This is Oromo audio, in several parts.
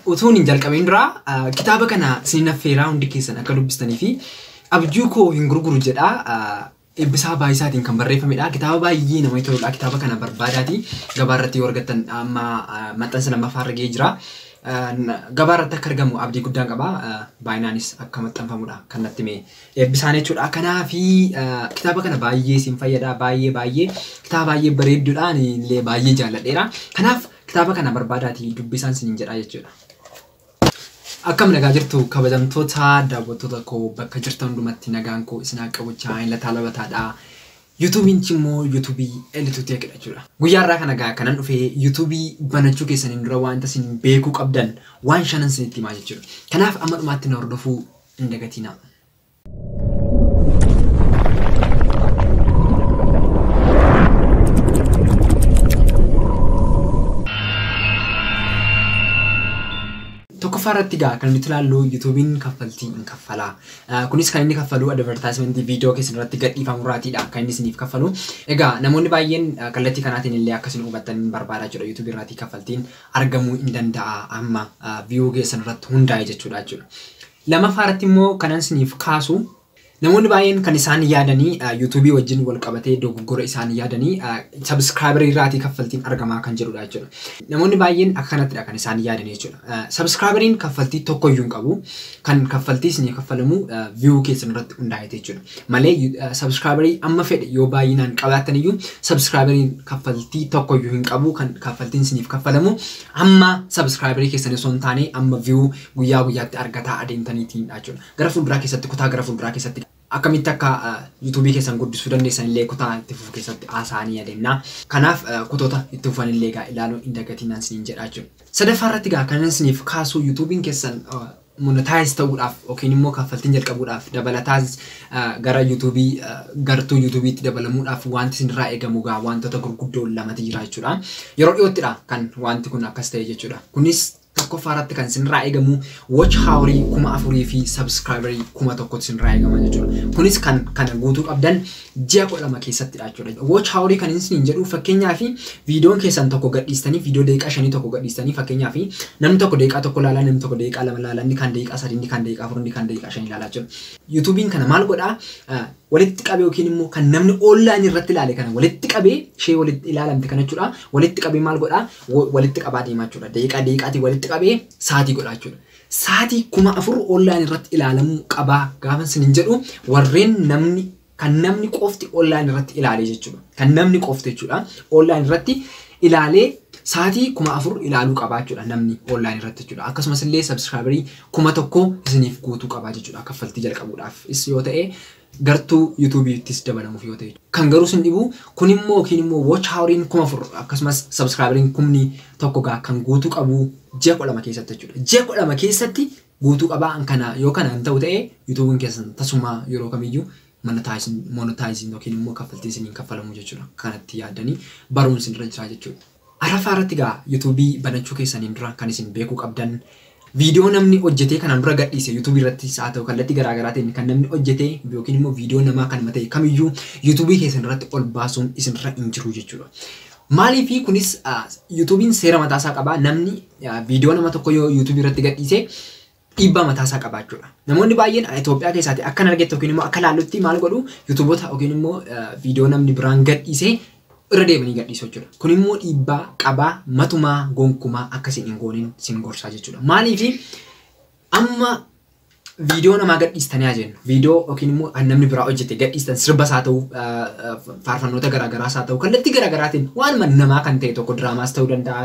Utuun hin jalqabiin dura kitaaba kana isinin affeeraa hundi keessan akka dubbistanii fi abjuu koo hin gurguru jedha Eebbisaa Baayisaatiin kan barreeffamedha. Kitaaba baay'ee namatti toludha. Kitaaba kana barbaadaati gabaa irratti yoo argattan amma maxxansa lammaffaa irra ga'ee jira. Gabaa irratti akka argamu abdii guddaan qaba. Baay'inaanis akka maxxanfamudha kan natti hime Eebbisaan jechuudha. Kanaafi kitaaba kana baay'ee isin fayyada baay'ee baay'ee kitaaba baay'ee bareeddudha. Ani illee baay'ee jaalladheera. Kanaaf Kitaaba kana barbaadaatii dubbisaan sinin jedhaa jechuudha. Akkam nagaa jirtu kabajamtoota daawwattoota koo bakka jirtan hundumatti nagaan koo isin haa qabu chaayeen lataa labataadha. Yuutuubiin immoo yuutuubii Elituu Teek jechuudha. Guyyaa irraa kana gaa kanan dhufee yuutuubii banachuu keessaniin dura wanta isin beekuu qabdan waan shanan isinitti himaa jechuudha. Kanaaf amma dhumaatti na hordofuu hin dagatinaa. tokkoffaa irratti gaa kan nuti ilaallu yuutuubiin kaffaltii hin kaffalaa. Kunis kan inni kaffalu advertaayimentii viidiyoo keessan irratti gadhiifamu irraatiidha kan inni isiniif kaffalu. Egaa namoonni baay'een kallattii kanaatiin illee akka isin hubattan hin barbaada jechuudha yuutuubii irraati kaffaltiin argamuu hin danda'a amma viiyuu keessan irratti hundaa'e jechuudha jechuudha. Lamaffaa irratti immoo kanan isiniif kaasu namoonni baay'een kan isaan yaadanii yuutuubii wajjin wal qabatee dogoggora isaan yaadanii sabiskiraayibarii irraatii kaffaltiin argamaa kan jedhudha jechuudha. Namoonni baay'een akka kanattidha kan isaan yaadanii jechuudha. Sabiskiraayibariin kaffaltii tokko iyyuu hin qabu. Kan kaffaltii isinii kaffalamu viyuu keessan irratti hundaa'eeti jechuudha. Malee sabiskiraayibarii amma fedhe yoo baay'inaan qabaattan iyyuu sabiskiraayibariin kaffaltii tokko iyyuu hin qabu. Kan kaffaltiin isiniif kaffalamu amma sabiskiraayibarii keessan osoo hin taane amma viyuu guyyaa guyyaatti argataa adeemtaniitni dha jechuudha. Gara fuulduraa keessatti kutaa gara fuulduraa keessatti akkamitti akka yuutuubii keessan guddisuu dandeessan illee kutaa itti fufu keessatti haasa'anii adeemna. Kanaaf kutoota itti fufan illee egaa ilaaluu hin dagatinaan isiniin jedha jechuudha. Sadaffaa irratti egaa kanan isiniif kaasuu yuutuubiin keessan monetaayiz ta'uudhaaf yookiin immoo kaffaltiin jalqabuudhaaf dabalataas gara yuutuubii gartuu yuutuubiitti dabalamuudhaaf wanti isinirraa eegamu egaa wantoota gurguddoo lamatu jira jechuudha. Yeroo dhiyoottidha kan wanti kun akkas ta'e jechuudha. Kunis tokkoffaa irratti kan isinirraa eegamu watch haawarii kuma afurii fi sabskraayibarii kuma tokkotti isinirraa eegama jechuudha. Kunis kan kana guutuu qabdan ji'a kudha lama keessattidha jechuudha. Watch haawarii kan isiniin jedhu fakkeenyaaf viidiyoon keessan tokko gadhiistanii viidiyoo daqiiqaa shanii tokko gadhiistanii fakkeenyaaf namni tokko daqiiqaa tokko laalaa namni tokko daqiiqaa lama laalaa inni kan daqiiqaa sadii inni kan daqiiqaa afur inni kan daqiiqaa shanii laalaa jechuudha. Yuutuubiin kana maal godhaa walitti qabee yookiin immoo kan namni online irratti ilaale kana walitti qabee ishee walitti ilaalamte kana jechuudha walitti qabee maal godhaa walitti qabaa deemaa jechuudha. Daqiiqaa daqiiqaatiin walitti qabee saatii godhaa jechuudha. Saatii kuma afur online irratti ilaalamuu qabaa gaafa isinin jedhu warreen namni kan namni qofti online irratti ilaalee jechuudha. Kan namni qofti jechuudha. Online irratti ilaalee saatii kuma afur ilaaluu qabaa jechuudha namni online irratti jechuudha. Akkasumas illee subscriberii kuma tokko isiniif guutuu qabaa jechuudha kaffaltii jalqabuudhaaf. Is yoo ta'e gartuu youtube ttis dabalamuf yoo ta'e. Kan garuu sin dhibu kun immoo yookiin immoo watch hourin 4000 akkasumas subscriberin kumni tokko gaa kan guutu qabu ji'a 12 keessatti jechuudha. Ji'a 12 keessatti guutuu qabaa an kana yoo kana hin ta'u ta'e youtubin keessan tasumaa yeroo kamiyyuu monetizing monetizing yookiin immoo kaffaltiin sin hin kaffalamu jechuudha. Kanatti yaaddanii baruun sin irra jira jechuudha. Araffaa irratti egaa YouTube banachuu keessaniin dura kan isin beekuu qabdan Video namni hojjetee kanaan dura gadhiise YouTube irrattis haa ta'u kallattii garaa garaatiin kan namni hojjetee yookiin immoo video namaa kanuma ta'e kamiyyuu YouTube keessan irratti ol baasuun isinirra hin jiru jechuudha. Maaliif kunis ah, YouTube'n seera mataa isaa qaba namni ah, video nama tokko yoo YouTube irratti gadhiise dhiibbaa mataa isaa qabaachuudha. Namoonni baay'een ani Itoophiyaa keessaati akkan argetti yookiin immoo akka laallutti maal godhu yuutuubota yookiin immoo viidiyoo namni biraan gadhiisee irra deemanii gadhiisu jechuudha. Kun immoo dhiibbaa qabaa matumaa gonkumaa akkasiin hin goonin sin gorsaa jechuudha. Maaliif amma viidiyoo namaa gadhiistanii haa jennu viidiyoo yookiin immoo an namni biraa hojjete gadhiistan sirbas haa ta'u faarfannoota garaagaraas haa ta'u kallattii garaagaraatiin waanuma namaa kan ta'e tokko diraamaas ta'uu danda'a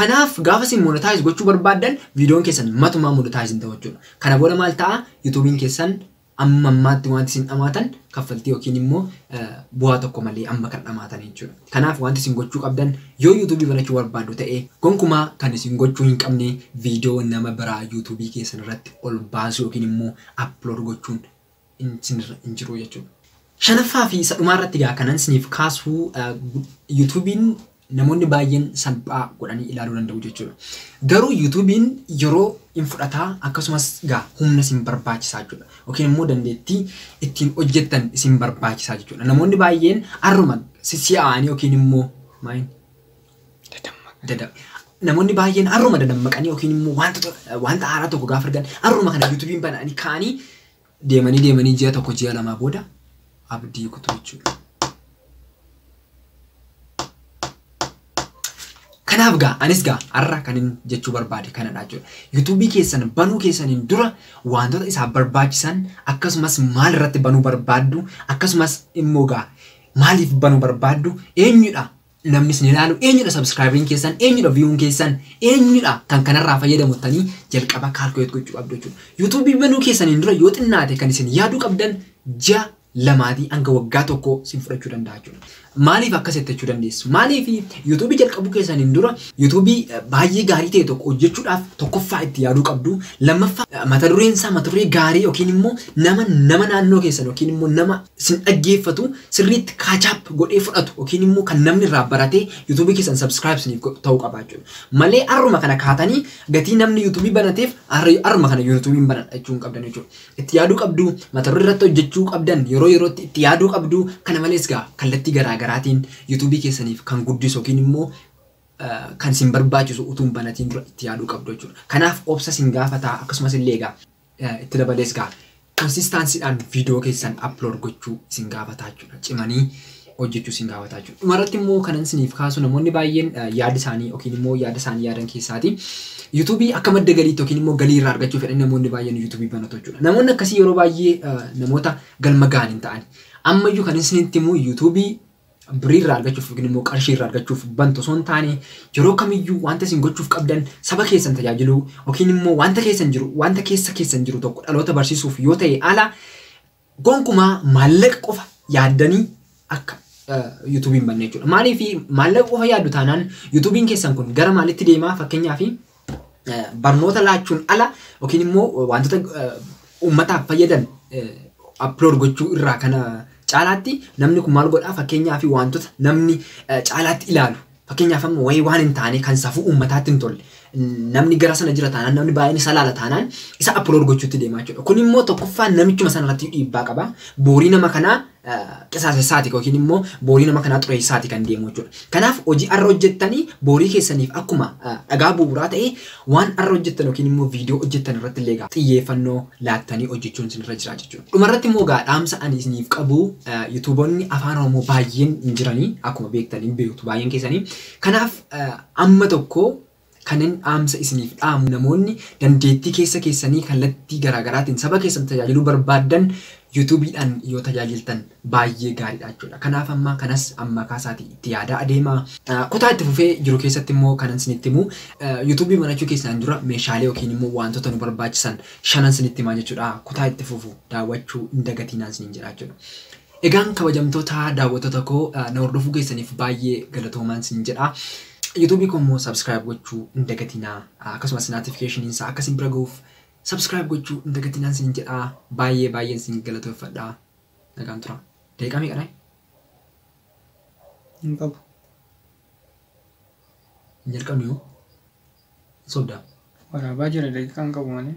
Kanaaf gaafa isin monetize gochuu barbaaddan viidiyoon keessan matumaa monetize hin ta'u jechuudha. Kana booda maal ta'a? Yuutuubiin keessan amma ammaatti wanti isin dhamaatan kaffaltii yookiin immoo bu'aa tokko malee amma kan dhamaatan jechuudha. Kanaaf wanti isin gochuu qabdan yoo yuutuubii banachuu barbaaddu ta'e gonkumaa kan isin gochuu hin qabne viidiyoo nama biraa yuutuubii keessan irratti ol baasuu yookiin immoo upload gochuun hin jiruu jechuudha. Shanaffaa fi isa dhumaa irratti egaa kanan isiniif kaasu yuutuubiin namoonni baay'een salphaa godhanii ilaaluu danda'u jechuudha. Garuu yuutuubiin yeroo hin fudhataa akkasumas egaa humna isin barbaachisaa jechuudha. Yookiin immoo dandeettii ittiin hojjettan isin barbaachisaa jechuudha. Namoonni baay'een har'uma sissi'aa'anii yookiin immoo maayin dada namoonni baay'een har'uma dadammaqanii yookiin immoo wanta wanta haaraa tokko gaafa argan har'uma kana yuutuubiin bananii kaanii Deemanii deemanii ji'a tokko ji'a lamaa booda abdii kutuu jechuudha. Kanaaf gaa anis gaa har'a kan hin jechuu barbaade kanadha jechuudha. Yuutuubii keessan banuu keessaniin dura wantoota isaaf barbaachisan akkasumas maal irratti banuu barbaaddu akkasumas immoo gaa maaliif banuu barbaaddu eenyudha namni isin ilaalu eenyudha subscribing keessan eenyudha viewun keessan eenyudha kan kanarraa fayyadamu tanii jalqaba calculate gochuu qabdu jechuudha. YouTube banuu keessaniin dura yoo xinnaate kan isin yaaduu qabdan ji'a lamaatii hanga waggaa tokko isin fudhachuu danda'a jechuudha. Maaliif akkas jettachuu dandeessu? Maaliif YouTube jalqabuu keessaniin dura YouTube baay'ee gaarii ta'e tokko hojjechuudhaaf tokkoffaa itti yaaduu qabdu. Lammaffaa mata dureen isaa mata duree gaarii yookiin immoo nama nama naannoo keessan yookiin immoo nama isin dhaggeeffatu sirriitti catch up godhee fudhatu yookiin immoo kan namni irraa baratee YouTube keessan subscribe isiniif godhu ta'uu qaba jechuudha. Malee har'uma kana kaatanii gatii namni YouTube banateef har'a- har'uma kana YouTube hin banadha jechuu hin qabdan jechuudha. Itti yaaduu qabdu, mata duree irratti hojjechuu qabdan yeroo yerootti itti yaaduu qabdu. Kana malees gaa kallattii garaa garaatiin YouTube keessaniif kan guddisu yookiin immoo eh, kan isin barbaachisu utuu hin banatiin dura itti yaaduu qabdu jechuudha. Kanaaf obsa isin gaafataa akkasumas illee egaa Itti dabalees egaa consistancy dhaan video keessan upload gochuu isin gaafataa jechuudha. Cimanii hojjechuu isin gaafataa jechuudha. Dhumarratti immoo kanan isiniif kaasu namoonni baay'een yaada isaanii yookiin immoo yaada isaanii yaadan keessaati. YouTube akka madda galiitti yookiin immoo galii irraa argachuu fedhan namoonni baay'een YouTube banatu jechuudha. Namoonni akkasii yeroo baay'ee namoota galma ga'an hin ta'ani. Ammayyuu kan isinitti himu YouTube birii irraa argachuuf yookiin immoo qarshii irraa argachuuf bantu osoo hin taane yeroo kamiyyuu wanta isin gochuuf qabdan saba keessan tajaajiluu yookiin immoo wanta keessan jiru wanta keessa keessan jiru tokko dhaloota barsiisuuf yoo ta'e ala gonkumaa maallaqa qofa yaaddanii akka yuutuubiin banne jechuudha. Maaliif maallaqa qofa yaaddu taanaan yuutuubiin keessan kun gara maalitti deemaa fakkeenyaaf barnoota laachuun ala yookiin immoo wantoota uummataaf fayyadan aplood gochuu irraa kana caalaatti namni kun maal godhaa fakkeenyaaf wantoota namni caalaatti ilaalu fakkeenyaaf amma wayii waan hin taane kan safuu uummataatti hin tolle namni gara sana jira taanaan namni baay'een isa laala taanaan isa aplood gochuutti deemaa jechuudha. Kun immoo tokkoffaa namichuma sana irratti dhiibbaa qaba. Boorii nama kanaa qisaasessaati yookiin immoo boorii nama kanaa xureessaati kan deemu jechuudha. Kanaaf hojii har'a hojjettanii boorii keessaniif akkuma dhagaa bu'uuraa ta'e waan har'a hojjettan yookiin immoo viidiyoo hojjettan irratti illee egaa xiyyeeffannoo laattanii hojjechuun isinirra jira jechuudha. Dhumarratti immoo egaa dhaamsa ani isiniif qabu yuutuuboonni afaan Oromoo baay'een hin jiranii akkuma beektanii beektu baay'een keessanii. Kanaaf amma tokko Kanin dhaamsa isiniif dhaamu namoonni dandeettii keessa keessanii kallattii garaa garaatiin saba keessan tajaajiluu barbaaddan YouTube dhaan yoo tajaajiltan baay'ee gaariidha jechuudha. Kanaaf amma kanas ammakaa isaatii itti yaadaa adeemaa. Kutaa itti fufee jiru keessatti immoo kanan isinitti himu YouTube banachuu keessaan dura meeshaalee yookiin immoo waantota nu barbaachisan shanan isinitti himaa jechuudha. Kutaa itti fufu daawwachuu hin dagatiinaan isiniin jedha jechuudha. Egaan kabajamtoota daawwattoota koo na hordofuu keessaniif baay'ee galatoomaan sin jedha. YouTube koo immoo subscribe gochuu hin dagatinaa. Akkasumas notification isaa akka sin bira gahuuf subscribe gochuu hin dagatinaan sin jedha. Baay'ee baay'een sin galatoeffadha. Nagaan tura. Daqiiqaa meeqa dhahe? Hin qabu. Hin jalqabne yoo? Hin sobdaa? Waraabaa jira daqiiqaan qabu malee.